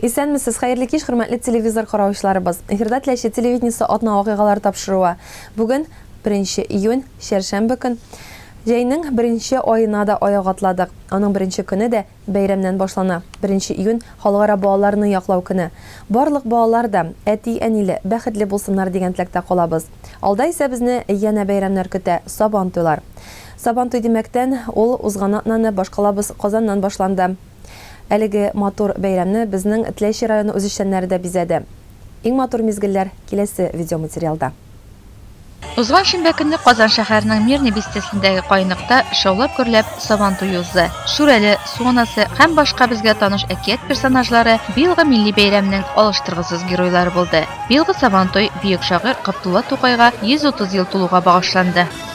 Исәнмесез, хәерле кич, хөрмәтле телевизор караучыларыбыз. Эфирда Теләче телевидениесе атна вакыйгалары тапшыруы. Бүген 1 июнь, чәршәмбе көн. Җәйнең беренче аена да аяк атладык. Аның беренче көне дә бәйрәмнән башлана. 1 июнь, Халыкара балаларны яклау көне. Барлык балалар да әти-әниле, бәхетле булсыннар дигән теләктә калабыз. Алда исә безне янә бәйрәмнәр көтә, Сабантуйлар. Сабантуй димәктән, ул узган атнаны башкалабыз, Казаннан башланды. Әлеге матур бәйрәмне безнең Тләйши районы үзешчәннәре дә бизәде. Иң матур мизгелләр киләсе видеоматериалда. Узган шимбә көнне Казан шәһәренең Мирный бистәсендәге каенлыкта шаулап-гөрләп Сабан туе узды. Шүрәле, Су анасы һәм башка безгә таныш әкият персонажлары быелгы милли бәйрәмнең алыштыргысыз геройлары булды. Быелгы Сабантуй бөек шагыйрь Габдулла Тукайга 130 ел тулуга багышланды.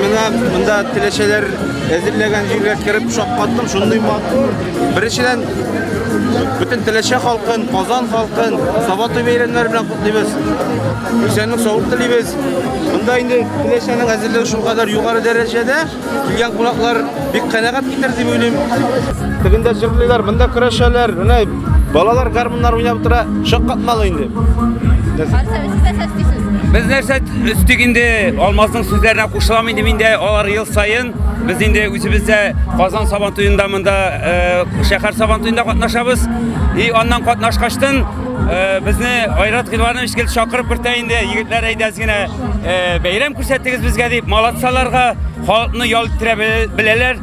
Менә монда теләчәләр әзерләгән җиргә кереп шаккаттым, шундый матур. Беренчедән бөтен теләчә халкын, Казан халкын Сабатый бәйрәмнәре белән котлыйбыз. Исәнлек саулык телибез. Монда инде теләчәнең әзерлеге шул кадәр югары дәрәҗәдә, килгән кунаклар бик канәгать китер дип уйлыйм. Тегендә җырлыйлар, монда көрәшәләр. Менә Балалар гармуннар уйнап тора, шаккатмалы инде. Без нәрсә өстик инде Алмазның сүзләренә кушылам инде миндә алар ел сайын без инде үзебездә Казан сабан туенда монда э, шәһәр сабан туенда катнашабыз. И аннан катнашкачтын э, безне Айрат Гилванович килеп чакырып кертә инде егетләр әйдәс генә э, бәйрәм күрсәттегез безгә дип молодцаларга халыкны ял иттерә беләләр.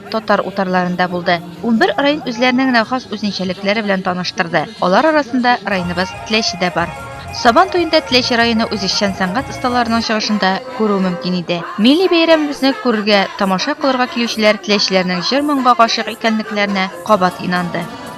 Татар утарларында булды. Унбер район үзләренең генә хас үзенчәлекләре белән таныштырды. Алар арасында районыбыз Теләче дә бар. Сабан туенда Теләче районы үзешчән сәнгать осталарының чыгышын да күрү мөмкин иде. Милли бәйрәмебезне күрергә, тамаша кылырга килүчеләр теләчеләрнең җыр-моңга гашыйк икәнлекләренә кабат инанды.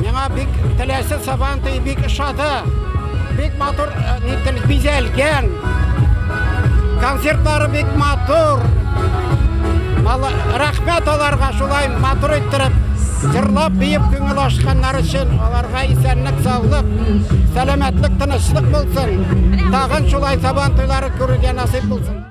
Миңа бик теләсе сабантый бик ошады. Бик матур э, нител бизәлгән. Концертлары бик матур. Мала рәхмәт аларга шулай матур иттереп җырлап биеп күңел ашканнар өчен аларга исәнлек саулык сәламәтлек тынычлык булсын тагын шулай сабан туйлары күрергә насыйп булсын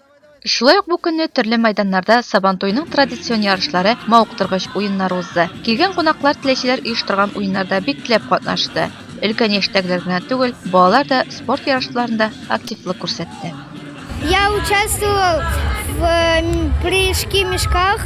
Шулай ук бу көнне төрле мәйданнарда Сабантуйның традицион ярышлары, мавыктыргыч уеннары узды. Килгән кунаклар теләүчеләр оештырган уеннарда бик теләп катнашты. Өлкән яшьтәгеләр генә түгел, балалар да спорт ярышларында активлык күрсәтте. Я участвовал в прыжки в мешках.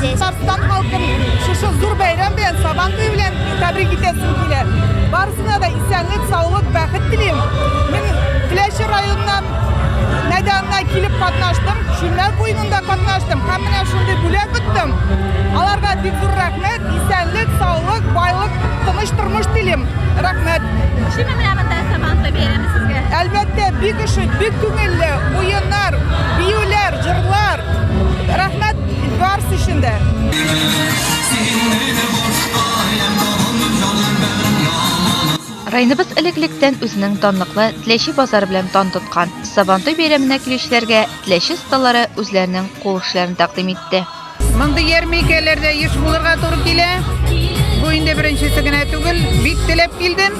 Татарстан халкын шушы зур бәйрәм белән, Сабан туе белән тәбрик итәсем килә. Барысына да исәнлек, саулык, бәхет телим. Мин Теләче районыннан мәйданына килеп катнаштым, Шүлмәк уенында катнаштым һәм менә шундый бүләк оттым. Аларга бик зур рәхмәт, исәнлек, саулык, байлык, тыныч тормыш телим. Рәхмәт. Шимә менә монда Сабан туе бәйрәме сезгә. Әлбәттә, бик ошый, бик күңелле, уеннар, биюләр, җырлар. Рәхмәт. Барс өчен дә. Районыбыз элек-электән үзенең данлыклы Теләче базары белән дан тоткан. Сабантуй бәйрәменә килүчеләргә Теләче осталары үзләренең кул эшләрен тәкъдим итте. Мондый ярминкәләрдә еш булырга туры килә. Бу инде беренчесе генә түгел. Бик теләп килдем.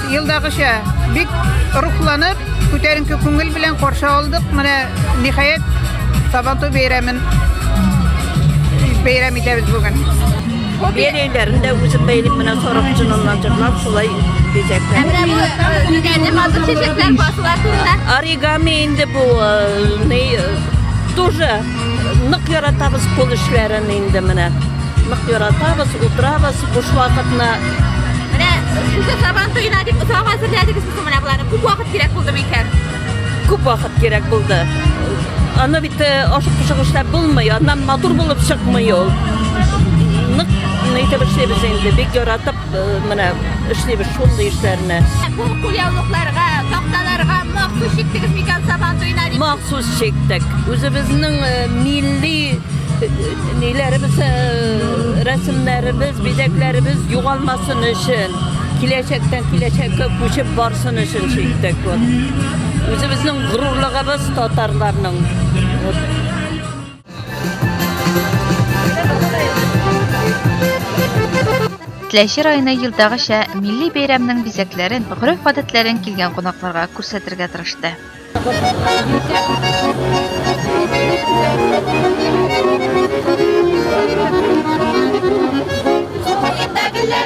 Елдагыча бик рухланып, күтәренке күңел белән каршы алдык. Менә ниһаять Сабантуй бәйрәмен бәйрәм итәбез бүген. Бәйләйләрендә үзем бәйлим менә сарык җыныннан җырлап шулай бизәкләр. Менә бу бизәкле матур чәчәкләр басыла турында. Оригами инде бу, э, не, э, тоже Нык яратабыз кул эшләрен инде менә. Нык яратабыз, утырабыз буш вакытны. Менә сүзе сабан туена дип отрак әзерләдегез бүген менә боларны. Күп вакыт кирәк булды микән? Күп вакыт кирәк булды. Аны бит э, ашык пошык эшләп булмый, аннан матур булып чыкмый ул. Нык, нитеп эшлибез инде, бик яратып. Менә эшлибез шундый эшләрне. Бу кулъяулыкларга, такталарга махсус чиктегез микән Сабан туена? Махсус чиктек. Үзебезнең милли ниләребез, рәсемнәребез, бизәкләребез югалмасын өчен, киләчәктән киләчәккә күчеп барсын өчен чиктек. Үзебезнең горурлыгыбыз татарларның. Теләче районы елдагыча милли бәйрәмнең бизәкләрен, гореф-гадәтләрен килгән кунакларга күрсәтергә тырышты. Субханаллаһ,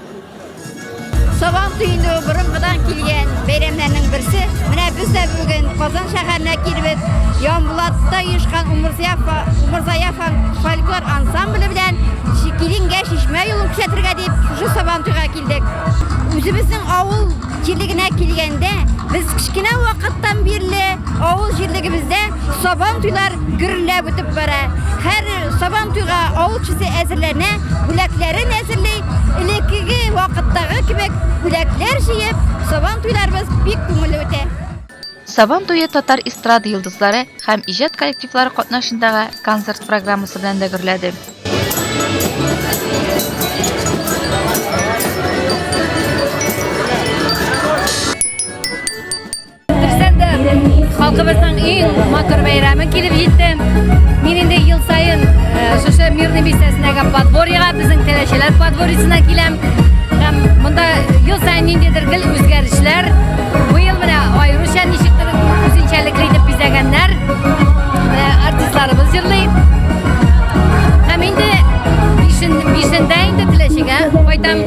Сабан төенде борынгыдан килгән бәйрәмнәрнең берсе. Менә без дә бүген Казан шәһәренә килбез. Ямбулатта оешкан Умырзая фольклор ансамбле белән Килингә чишмә юлын күрсәтергә дип шушы Сабан туйга килдек. Үзебезнең авыл җирлегенә килгәндә, без кечкенә вакыттан бирле авыл җирлегебездә Сабан туйлар гөрләп үтеп бара. Һәр Сабан туйга авыл кешесе әзерләнә, бүләкләрен әзерли, Элеккеге вакыттагы кебек бүләкләр җыеп, Сабан туйларыбыз бик күңелле үтә. Сабан туе татар эстрада йолдызлары һәм иҗат коллективлары катнашындагы концерт программасы белән дә гөрләде. халкыбызның иң матур бәйрәме килеп җитте. Мин инде ел саен шушы Мирный бистәсендәге подворьега, безнең Тәләчәләр подворьесына киләм. Һәм монда ел саен ниндидер гел үзгәрешләр. Быел менә аеруча ничектер үзенчәлекле итеп бизәгәннәр. Артистларыбыз җырлый. Һәм инде бишендә инде Тәләчәгә кайтам.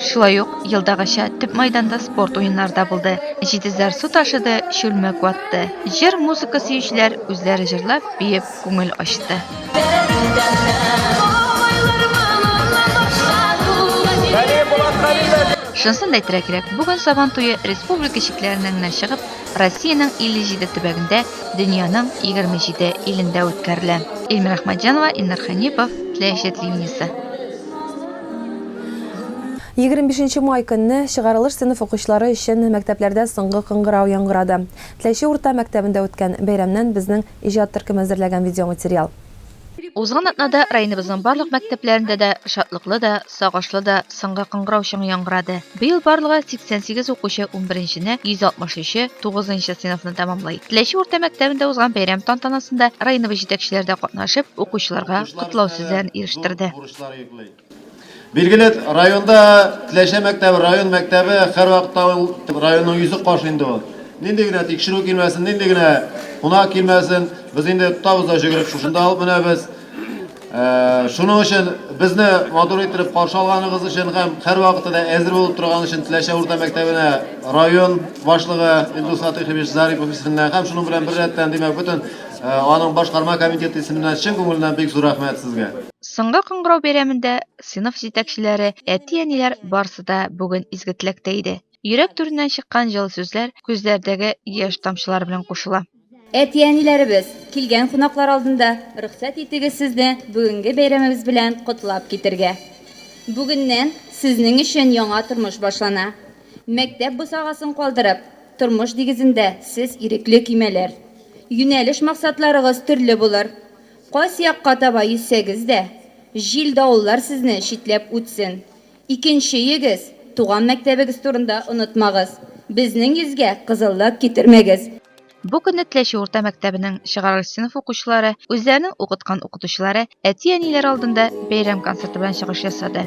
Шулай ук елдагыча төп мәйданда спорт уеннары да булды. Җитезләр су ташыды, чүлмәк ватты. Җыр-музыка сөючеләр үзләре җырлап, биеп күңел ачты. Шунысын да әйтергә кирәк, бүген Сабан туе республика чикләреннән генә чыгып, Россиянең 57 төбәгендә, дөньяның 27 илендә үткәрелә. Ильмира Ахмаджанова, Иннар Хәнипов, Теләче телевидениесе. Егерме бишенче май көнне чыгарылыш сыйныф укучылары өчен мәктәпләрдә соңгы кыңгырау яңгырады. Теләче урта мәктәбендә үткән бәйрәмнән безнең иҗат төркеме әзерләгән видеоматериал. Узган атнада районыбызның барлык мәктәпләрендә дә шатлыклы да, сагышлы да соңгы кыңгырау чыңы яңгырады. Быел барлыгы 88 укучы унберенчене, 163 е тугызынчы сыйныфны тәмамлый. Теләче урта мәктәбендә узган бәйрәм тантанасында районыбыз җитәкчеләре дә катнашып, укучыларга котлау сүзләрен ирештерде. Билгеле, районда Теләче мәктәбе, район мәктәбе һәрвакытта ул районның йөзе кашы инде ул. Нинди генә тикшерү килмәсен, нинди генә кунак килмәсен, без инде тотабыз да җөгереп шушында алып менәбез. Шуның өчен безне матур иттереп каршы алганыгыз өчен һәм һәрвакытта да әзер булып торганыгыз өчен Теләче урта мәктәбенә район башлыгы Илдус Фатыйхович Зарипов исеменнән һәм шуның белән беррәттән, димәк, бөтен аның башкарма комитеты исеменнән чын күңеленнән бик зур рәхмәт сезгә. Соңгы кыңгырау бәйрәмендә сыйныф җитәкчеләре, әти-әниләр барысы да бүген изге теләктә иде. Йөрәк түреннән чыккан җылы сүзләр күзләрдәге яшь тамчылары белән кушыла. Әти-әниләребез, килгән кунаклар алдында рөхсәт итегез сезне бүгенге бәйрәмебез белән котлап китергә. Бүгеннән сезнең өчен яңа тормыш башлана. Мәктәп бусагасын калдырып, тормыш дигезендә сез ирекле көймәләр. Юнәлеш-максатларыгыз төрле булыр. Кайсы якка таба йөзсәгез дә, җил-давыллар сезне читләп үтсен. Икенчеегез, туган мәктәбегез турында онытмагыз, безнең йөзгә кызыллык китермәгез. Бу көнне Теләче урта мәктәбенең чыгарылыш сыйныф укучылары үзләренең укыткан укытучылары, әти-әниләре алдында бәйрәм концерты белән чыгыш ясады.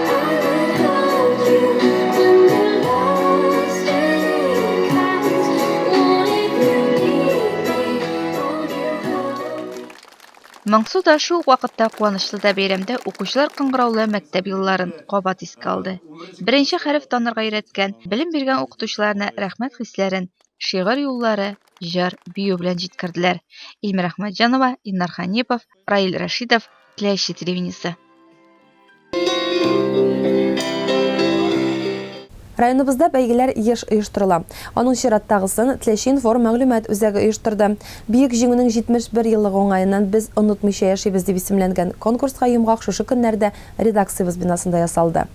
Моңсу да, шул ук вакытта куанычлы да бәйрәмдә укучылар кыңгыраулы мәктәп елларын кабат искә алды. Беренче хәреф танырга өйрәткән, белем биргән укытучыларына рәхмәт хисләрен шигырь юллары, җыр, бию белән җиткерделәр. Илмира Әхмәтҗанова, Иннар Ханипов, Раил Рәшидов, Теләүче телевидениесе. Районыбызда бәйгеләр еш оештырыла. Аның чираттагысын Теләче информ мәгълүмат үзәге оештырды. Бөек Җиңүнең 71 еллыгы уңаеннан Без онытмыйча яшибез дип исемләнгән конкурска йомгак шушы көннәрдә редакциябез бинасында ясалды.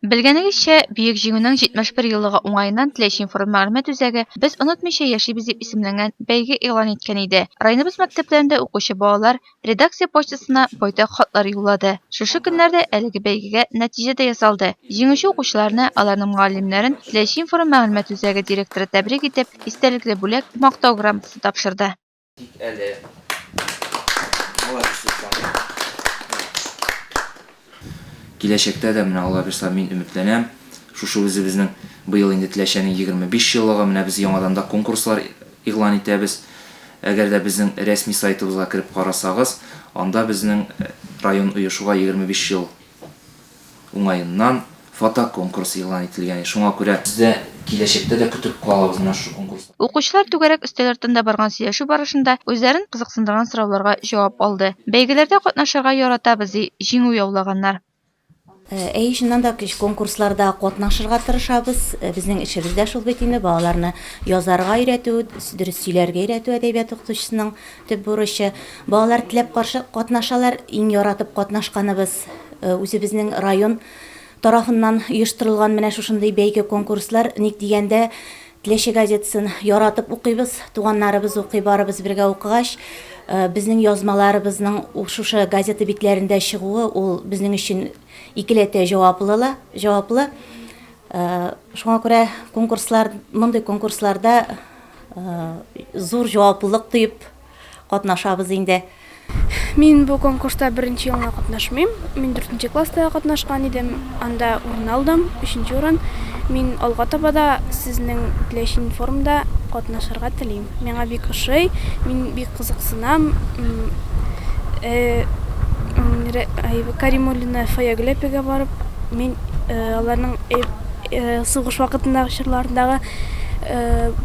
Белгәнегезчә, Бөек Җиңүнең 71 еллыгы уңаеннан Теләч информ-мәгълүмат үзәге Без онытмыйча яшибез дип исемләнгән бәйге игълан иткән иде. Районыбыз мәктәпләрендә укучы балалар редакция почтасына байтак хатлар юллады. Шушы көннәрдә әлеге бәйгегә нәтиҗә дә ясалды. Җиңүче укучыларны, аларның мөгаллимнәрен Теләч информ-мәгълүмат үзәге директоры тәбрик итеп, истәлекле бүләк, Мактау грамотасы тапшырды. Тик әле. Молодец, Руслан. Киләчәктә дә менә Алла бирса мин өметләнәм. Шушы үзебезнең быел инде Теләчәнең 25 еллыгы, менә без яңадан да конкурслар игълан итәбез. Әгәр дә безнең рәсми сайтыбызга кереп карасагыз, анда безнең район оешуга 25 ел уңаеннан фотоконкурс игълан ителгән, шуңа күрә без дә киләчәктә дә көтеп калабыз менә шушы конкурсларны. Укучылар түгәрәк өстәл артында барган сөйләшү барышында үзләрен кызыксындырган сорауларга җавап алды. Бәйгеләрдә катнашырга яратабыз, ди җиңү яулаганнар. Әйе, чыннан да, конкурсларда катнашырга тырышабыз. Безнең эшебез дә шул бит инде, балаларны язарга өйрәтү, дөрес сөйләргә өйрәтү әдәбият укытучысының Төп бурычы, балалар теләп каршы катнашалар, иң яратып катнашканыбыз, үзебезнең район тарафыннан оештырылган менә шушындый бәйге-конкурслар, ник дигәндә, Теләче газетасын яратып укыйбыз, туганнарыбыз укый, барыбыз бергә укыгач, безнең язмаларыбызның шушы газета битләрендә чыгуы, ул безнең өчен икеләтә җаваплы ла, җаваплы. Шуңа күрә конкурслар, мондый конкурсларда, Зур җаваплылык тоеп катнашабыз инде. Мин бу конкурста беренче елына катнашмыйм. Мин дүртенче класста катнашкан идем, анда урын алдым, өченче урын. Мин алга таба да сезнең теләчен форумда катнашырга телим. Миңа бик ошый, мин бик кызыксынам. Каримуллина Фаягүл әпигә барып, мин аларның сугыш вакытындагы чорларындагы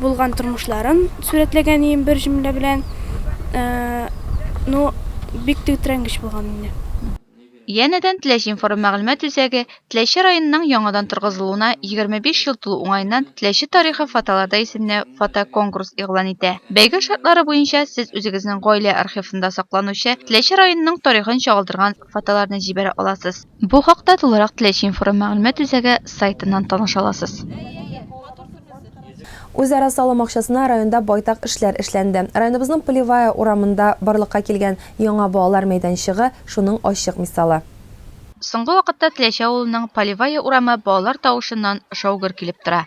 булган тормышларын сурәтләгән идем бер җөмлә белән. Ну, бик тетрәнгеч булган инде. Янәдән Теләч информ-мәгълүмат үзәге Теләче районының яңадан торгызылуына 25 ел тулу уңаеннан Теләче тарихы фотоларда исемле фотоконкурс игълан итә. Бәйге шартлары буенча сез үзегезнең гаилә архивында сакланучы Теләче районының тарихын чагылдырган фотоларны җибәрә аласыз. Бу хакта тулырак Теләче информ мәгълүмат үзәге сайтыннан таныша аласыз. Үзара салым акчасына районда байтак эшләр эшләнде. Районыбызның Полевая урамында барлыкка килгән яңа балалар мәйданчыгы шуның ачык мисалы. Соңгы вакытта Теләче авылының Полевая урамы балалар тавышыннан шау-гөр килеп тора.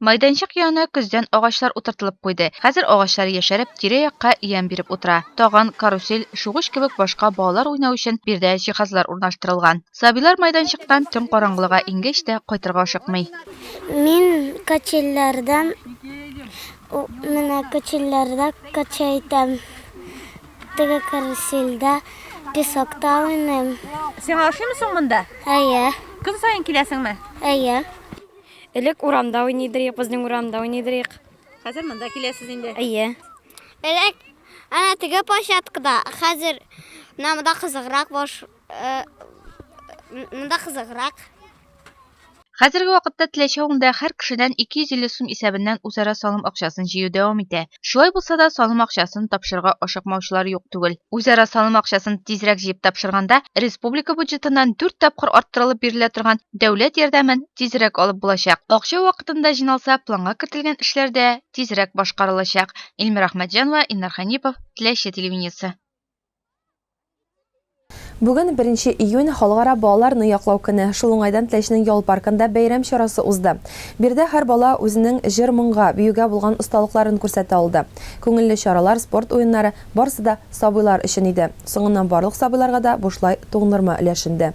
Майданчык янына көздән агачлар утыртылып куйды. Хәзер агачлар яшәреп, тирә-якка ямь биреп утыра. Таган, карусель, чугыч кебек башка балалар уйнау өчен биредә җиһазлар урнаштырылган. Сабыйлар майданчыктан төн караңгылыга иңгәч тә кайтырга ашыкмый. Мин качельләрдән менә качельләрдә кача итәм. Теге карусельдә песокта уйныйм. Сиңа ошыймы соң монда? Әйе. Көн саен киләсеңме? Әйе. Элек урамда уйныйдыр идек, безнең урамда уйныйдыр идек. Хәзер монда киләсез инде. Әйе. Элек әнә теге площадкада, хәзер менә монда кызыграк баш э, монда кызыграк. Хәзерге вакытта Теләче авылында һәр кешедән 250 сум исәбеннән үзара салым акчасын җыю дәвам итә. Шулай булса да, салым акчасын тапшырырга ашыкмаучылар юк түгел. Үзара салым акчасын тизрәк җыеп тапшырганда, республика бюджетыннан дүрт тапкыр арттырылып бирелә торган дәүләт ярдәмен тизрәк алып булачак. Акча вакытында җыйналса, планга кертелгән эшләр дә тизрәк башкарылачак. Ильмира Ахмәтҗанова, Илнар Хәнипов, Теләче телевидениесе. Бүген, беренче июнь, Халыкара балаларны яклау көне. Шул уңайдан Теләченең ял паркында бәйрәм чарасы узды. Биредә һәр бала үзенең җыр-моңга, биюгә булган осталыкларын күрсәтә алды. Күңелле чаралар, спорт уеннары, барысы да сабыйлар өчен иде. Соңыннан барлык сабыйларга да бушлай туңдырма өләшенде.